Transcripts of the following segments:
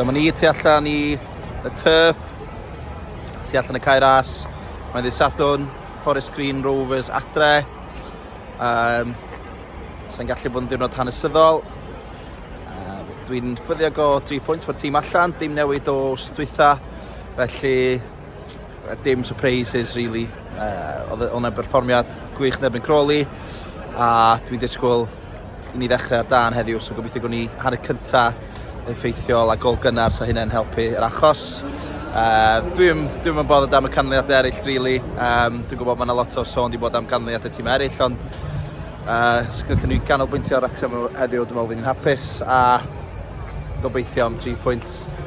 Dyma ni tu allan i y turf, tu allan y cair as. Mae'n ddydd Sadwn, Forest Green Rovers adre. Um, Sa'n gallu bod yn ddiwrnod hanesyddol. Uh, Dwi'n ffyddiog o 3 phwynt mae'r tîm allan, dim newid o stwytha. Felly Dim surprises really. Uh, oedd hwnna'n berfformiad gwych yn erbyn Crawley a dwi'n disgwyl i ni ddechrau ar dan heddiw, so gobeithio gwni hanner cyntaf effeithiol a gol gynnar sa hynny'n helpu yr achos. Uh, dwi'n dwi yn bodd am y canlyniadau eraill, really. Um, dwi'n gwybod mae yna lot o sôn di bod am canlyniadau tîm eraill, ond uh, sgynnyllyn ni'n ganolbwyntio ar Wrexham heddiw, dwi'n meddwl fi'n hapus, a gobeithio am 3 phwynt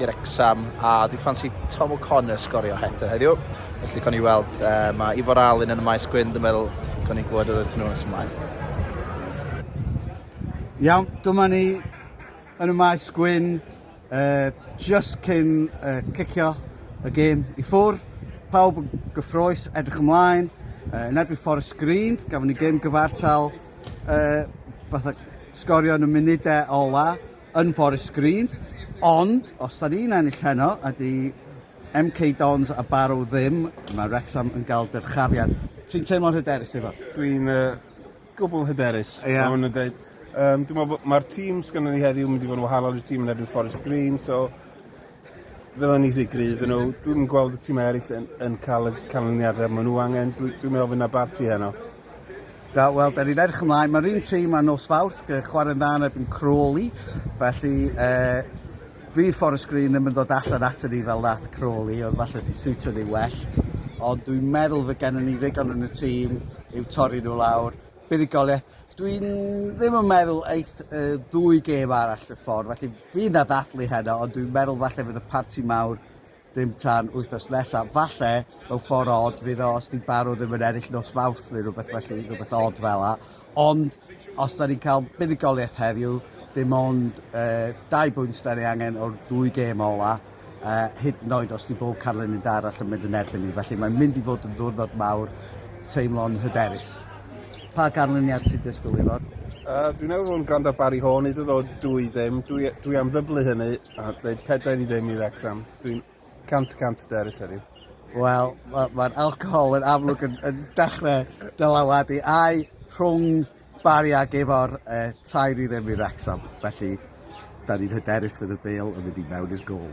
i Wrecsam a dwi'n ffansi Tom O'Connor sgorio header heddiw. Felly con i weld, uh, mae Ifor Alun yn y maes gwyn, dwi'n meddwl con i'n gwybod oedd nhw'n nes ymlaen. Iawn, dyma ni yn y maes gwyn, uh, just cyn uh, cicio y gêm i ffwr. Pawb yn gyffroes, edrych ymlaen, uh, yn erbyn Forest Green, gafon ni gêm gyfartal, uh, fatha sgorio yn y munudau ola. yn Forest Green, ond os da ni'n ennill heno a di MK Dons a Barrow ddim, mae Wrexham yn cael dyrchafiad. Ti'n teimlo'n hyderus Ifor? Dwi'n uh, gwbl hyderus. Ie. Yeah. Dwi'n dweud, um, dwi'n meddwl mae'r tîm sgynny ni heddiw mynd i fod yn wahanol i'r tîm yn erbyn Forest Green, so fydden ni rhy gryf yn nhw. Dwi'n gweld y tîm eraill yn, yn cael y canlyniadau maen nhw angen. Dwi'n dwi meddwl fydd yna barti heno. Da, wel, da ni'n edrych ymlaen. Mae'r un tîm a nos fawrth, chwarae'n dda yn erbyn Crawley, felly e, fi Forest Green ddim yn dod allan ato ni fel nath Crawley, oedd falle di siwtio ni well, ond dwi'n meddwl fe gennym ni ddigon yn y tîm i'w torri nhw lawr. Buddugoliaeth, dwi'n ddim yn meddwl eith y ddwy gêm arall y ffordd, felly fi'n ddaddathlu heno, ond dwi'n meddwl falle fydd y parti mawr Dim tan wythnos nesaf. Falle, mewn ffordd od, fydd o os di Barrow ddim yn ennill nos Fawrth neu rhywbeth felly, rhywbeth od fel la. Ond, os da ni'n cael buddugoliaeth heddiw, dim ond uh, dau bwynt da ni angen o'r dwy gêm ola, uh, hyd yn oed os di bob carlen yn dar allan mynd yn erbyn ni. Felly mae'n mynd i fod yn ddwrnod mawr, teimlo'n hyderus. Pa ganlyniad sy'n disgwyl i fod? Uh, dwi'n meddwl fod yn gwrando Barry Horn i ddod dwy ddim. Dwi, dwi am ddyblu hynny. A dweud pedair i ddim i Wrecsam. Dwi'n cant y cant hyderus heddiw. Wel, mae'r ma alcohol yn amlwg yn, yn dechrau dylawadu ai rhwng Barry a Gefor e, tair i ddim i Wrecsam. Felly, da ni'n hyderus fydd y bel yn mynd i mewn i'r gol.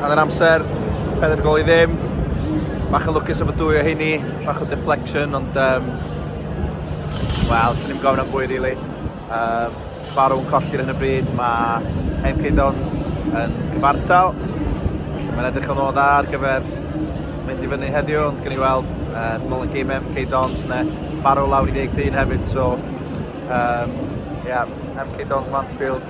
Ar yr amser, pen yn gol i ddim. Bach yn lwcus efo dwy o hynny, bach o deflection, ond... Um, Wel, dyn ni'n gofyn am fwy, really. Um, Barw'n colli'r hyn y bryd, mae MK Dons yn cyfartal. Felly mae'n edrych yn ôl dda ar gyfer mynd i fyny heddiw, ond gen i weld, uh, dwi'n meddwl yn gym MK Dons, ne, Barw lawr i 13 hefyd, so... Um, yeah, MK Dons Mansfield,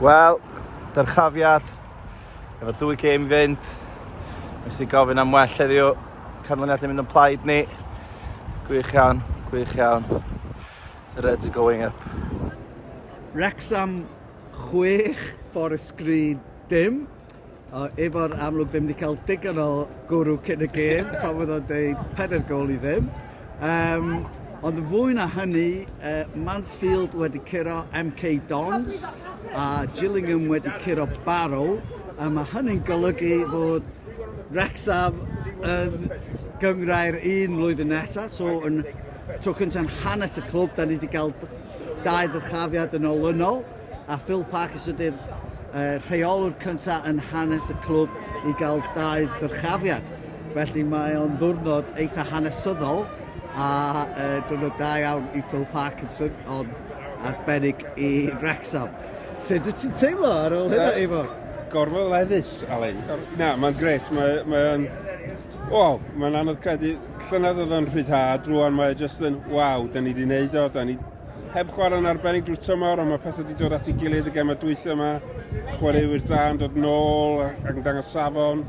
Wel, dyrchafiad, efo dwy gêm i fynd, nes i gofyn am well heddiw, canlyniad yn mynd yn plaid ni. Gwych iawn, gwych iawn. The Reds are going up. Wrecsam 6, Forest Green dim. O, efo'r amlwg ddim wedi cael digon o gwrw cyn y gêm, pan fod o'n dweud pedair gol i ddim. Um, ond yn fwy na hynny, uh, Mansfield wedi curo MK Dons a Gillingham wedi curo Barrow. A mae hynny'n golygu fod Wrexham yn gyngrair un mlwyddyn nesaf, so yn Tro cyntaf yn hanes y clwb, da ni wedi cael dau ddyrchafiad yn olynol, a Phil Parkes ydy'r uh, rheolwr cyntaf yn hanes y clwb i gael dau ddyrchafiad. Felly mae o'n ddwrnod eitha hanesyddol a uh, diwrnod da iawn i Phil Parkinson, ond arbennig i Wrexham. Sut wyt ti'n teimlo ar ôl hynna, uh, Ifor? Gorfod leddus, Alain. Na, mae'n gret. Mae'n... Mae, mae, o, mae'n anodd credu Llynedd oedd o'n rhyddhad, rwan mae e jyst yn waw, da ni wedi wneud o, da ni heb chwarae'n arbennig drwy tymor, ond mae pethau wedi dod at ei gilydd y gemau dwythau yma, chwaraewyr da yn dod nôl ac yn dangos safon.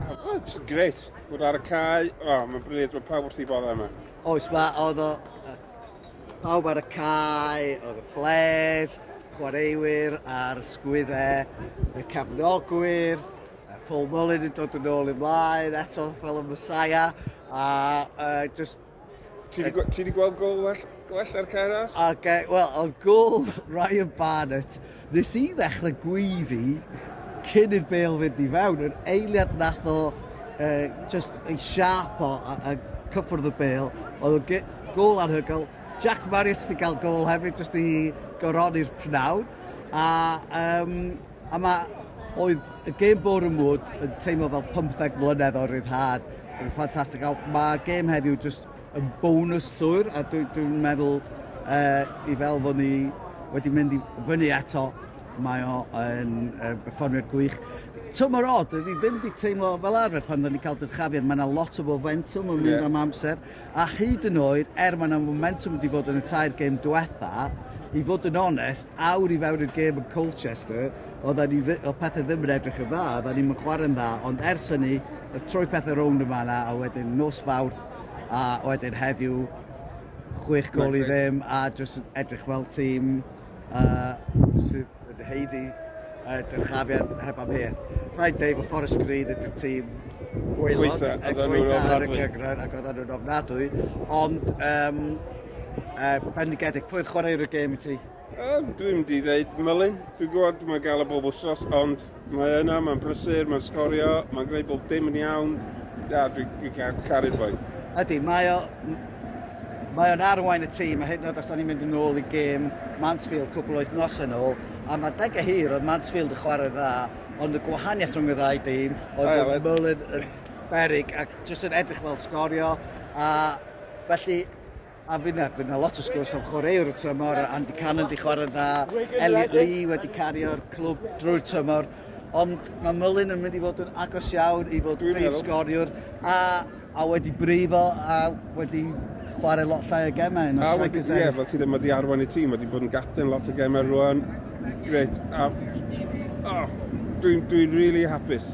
Oh, just great. Bod ar y cae, oh, mae'n briliant, mae pawb wrth ei boddau yma. Oes, mae oedd o... Pawb ar y cae, oedd y ffles, chwaraewyr a'r sgwyddau, y cefnogwyr, uh, Paul Mullin yn dod yn ôl i mlaen eto fel y Messiah a uh, just Ti wedi gweld gol well, well ar Ceras? Okay, wel, oedd gol Ryan Barnett. Nes i ddechrau gwyddi cyn i'r bel fynd i fewn, yr eiliad nath o uh, just ei siarp o a, a cyffwrdd y bel, oedd o gol anhygoel. Jack Marriott wedi cael gol hefyd, jyst i goroni'r pnawn. A um, Yma oedd y gêm bore mwd yn teimlo fel 15 mlynedd o ryddhad. Yn ffantastig. Mae gêm heddiw jyst yn bonus llwyr a dwi'n dwi meddwl uh, i fel fod ni wedi mynd i fyny eto mae o yn uh, berfformiad gwych. Tymor od, dwi ddim wedi teimlo fel arfer pan dda ni cael dyrchafiad, mae yna lot o fomentwm yn mynd yeah. am amser. a hyd yn oed er mae 'na fomentwm wedi bod yn y tair gêm diwetha', i fod yn onest, awr i fewn i'r gêm yn Colchester, oeddan ni ddi- oedd pethe ddim yn edrych yn dda, oeddan ni'm yn chwarae'n dda, ond ers hynny, wrth troi pethe rownd yn fan'na, a wedyn nos Fawrth, a wedyn heddiw, chwech gôl i ddim, a jyst yn edrych fel tîm, a sut ydy Heidi a dyrchafiad heb am peth. Rhaid deud fod Forest Green ydy'r tîm gweilod gweitha, a gweitha nhw'n ofnadwy. Gyngor, ac oedden nhw'n ofnadwy, ond um, uh, bendigedig, pwy oedd chwaraewr y gêm i ti? Uh, dwi'n di ddeud Mylun, dwi'n gwybod mae gael y bob wsos, ond Mae yna, mae'n brysur, mae'n sgorio, mae'n gwneud bob dim yn iawn. Ia, dwi'n dwi caru'r boi. Ydy, mae o... Mae o'n arwain y tîm, a hyd yn oed os da ni'n mynd yn ôl i gêm Mansfield cwbl wythnos yn ôl, a mae deg a hir oedd Mansfield yn chwarae dda, ond y gwahaniaeth rhwng y ddau dîm oedd bod Mullin yn berig ac jyst yn edrych fel sgorio a felly A fydd 'na, fydd 'na lot o sgwrs am chwaraewr y tymor, Andy Cannon di chwarae'n dda, Elliot Lee wedi cario'r clwb drwy'r tymor, ond mae Mullin yn mynd i fod yn agos iawn i fod prif sgoriwr, a, a wedi brifo, a wedi chwarae lot llai o gemau yn y strikers Ie, fel ti ddim wedi arwain y tîm, wedi bod yn gapten lot o gemau rwan, gret, a, oh, dwi'n dwi really hapus.